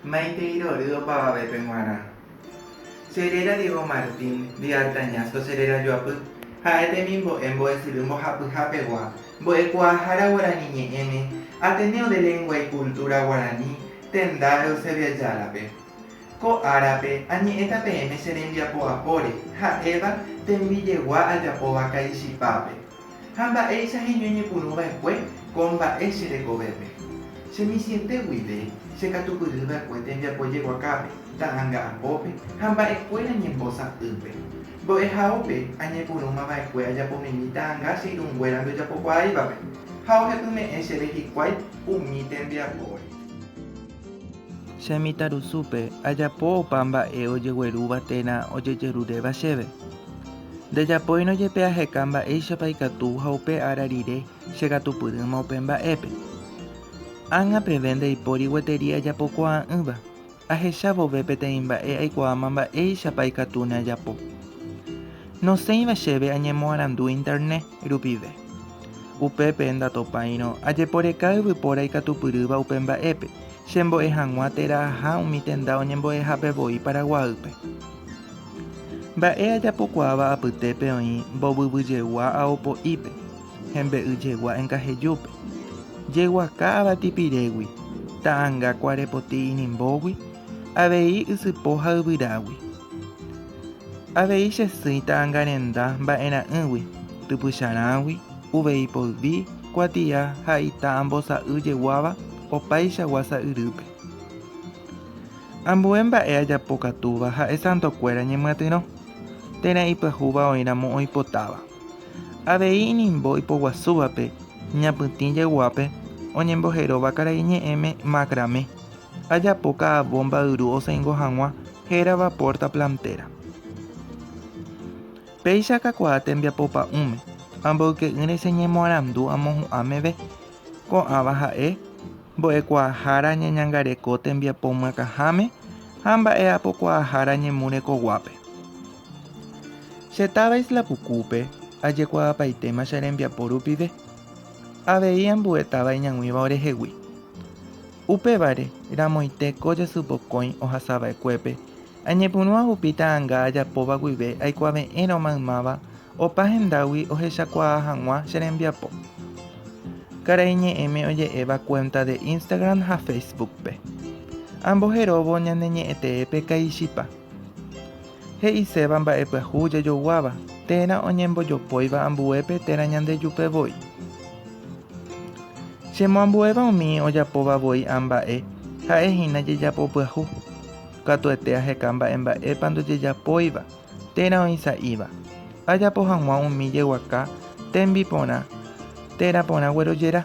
Maitei rory opavavépe g̃uarã. Che réra Diego Martín de Artañazco che réra joapy, ha'e temimbo'e mbo'esyry mbohapyha pegua, mbo'ekuaahára guarani ñe'ẽme, Ateneo de Lengua y Cultura Guarani, Tendaro, Seveajárape. Ko árape, añe'ẽta peẽme che rembiapo apóre, ha'éva, tembi jegua ajapóva Caixipápe. Ha mba'éicha heñoñepyrũ va'ekue ko mba'e che rekovépe. Che misiete guive che katupyry va'ekue tembiapo jeguakápe, ta'anga apópe ha mba'e kuéra ñembo sa'ýpe. Mbo'ehaópe añepyrũma va'ekue ajapomimi ta'anga che irũ nguéra ndojapokuaáivape, ha ohepyme'ẽ chéve hikuái umi tembiapóre. Che mitãrusúpe ajapo opa mba'e ojeguerúva térã ojejeruréva chéve. Ndejapóirõ jepe aheka mba'éichapa ikatu ha upe ára rire chekatupyrỹma upe mba'épe. Ág̃a peve ndaipóri gueteri ajapokuaa'ỹva, ahecha vove peteĩ mba'e aikuaáma mba'éichapa ikatu neajapo. Nosẽiva chéve añemoarandu Internet rupive. Upépe ndatopáirõ ajeporeka yvypóra ikatupyrýva upe mba'épe, chembo'e hag̃ua térã aja umi tenda oñembo'ehápe voi Paraguaýpe. Mba'e ajapokuaáva apytépe oĩ mbovyvyjegua ao po'ípe, hembe'yjegua enkahejúpe, jeguaka avatipirégui, ta'anga kuarepoti inimbógui, avei ysypo ha yvyrágui. Avei chesỹi ta'angarenda mba'erã'ỹgui, typycharãgui, uvei poldi, kuatia ha ita ambosa'y jeguáva opaichagua sa'yrýpe. Ambue mba'e ajapokatúva ha'e santokuéra ñemyatyrõ, térã ipyahúva oĩramo oipotáva. Avei inimbo ipoguasúvape ñapytĩ jeguápe oñemboheróva karaiñe'ẽme macramé. Ajapo ka'a vómba yru osẽingo hag̃ua hérava pórta plantéra. Péicha akakuaa tembiapo pa'ũme, amboyke'ỹre che ñemoarandu amohu'ã meve. Ko'ãva ha'e, mbo'ekuaahára ñañangareko tembiapo myakãháme ha mba'e'apokuaahára ñemu rekoguápe. Che táva Isla Pukúpe ajekuaapaitéma che rembiapo rupive. Avei ambue táva iñag̃uíva orehegui. Upévare, ramoite ko jasy mokõi ohasava'ekuépe, añepyrũa hupi ta'anga ajapóva guive aikuave'ẽrõ maymáva opa hendágui ohechakuaa hag̃ua che rembiapo. Karai Ñe'ẽme oje'éva cuenta de Instagram ha Facebook-pe. Amboheróvo ñane ñe'ẽteépe kaichipa. He'iséva mba'epyahu jajoguáva, térã oñembojopóiva ambuépe térã Ñandejupe voi. Chemoambuéva umi ojapóva voi ã mba'e, ha'e hína jejapopyahu. Katuete aheka mba'emba'épa ndojejapóiva, térã oĩ sa'íva. Ajapo hag̃ua umi jeguaka tembiporã térã porã guerojera.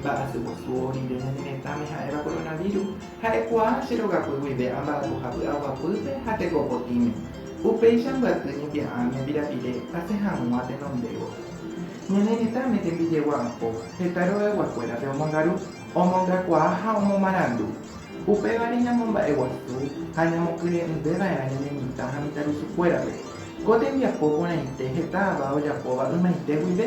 Mba'asyposu oĩve ñane retãme ha'éva koronavíru. Ha'ekuaa che rogakuy guive amba'apoha py'aguapýpe ha teko potĩme. Upéicha mbyaty ñepia'ã ñembirapire asẽ hag̃ua tenondévo. Ñane retãme tembijegua apo, heta rogaiguakuérape omongaru, omongakuaa ha omomarandu. Upévare ñamomba'eguasu ha ñamokyre'ỹve va'erã ñane mitã ha mitãrusukuérape. Ko tembiapo porãite heta ava ojapóva ymaite guive.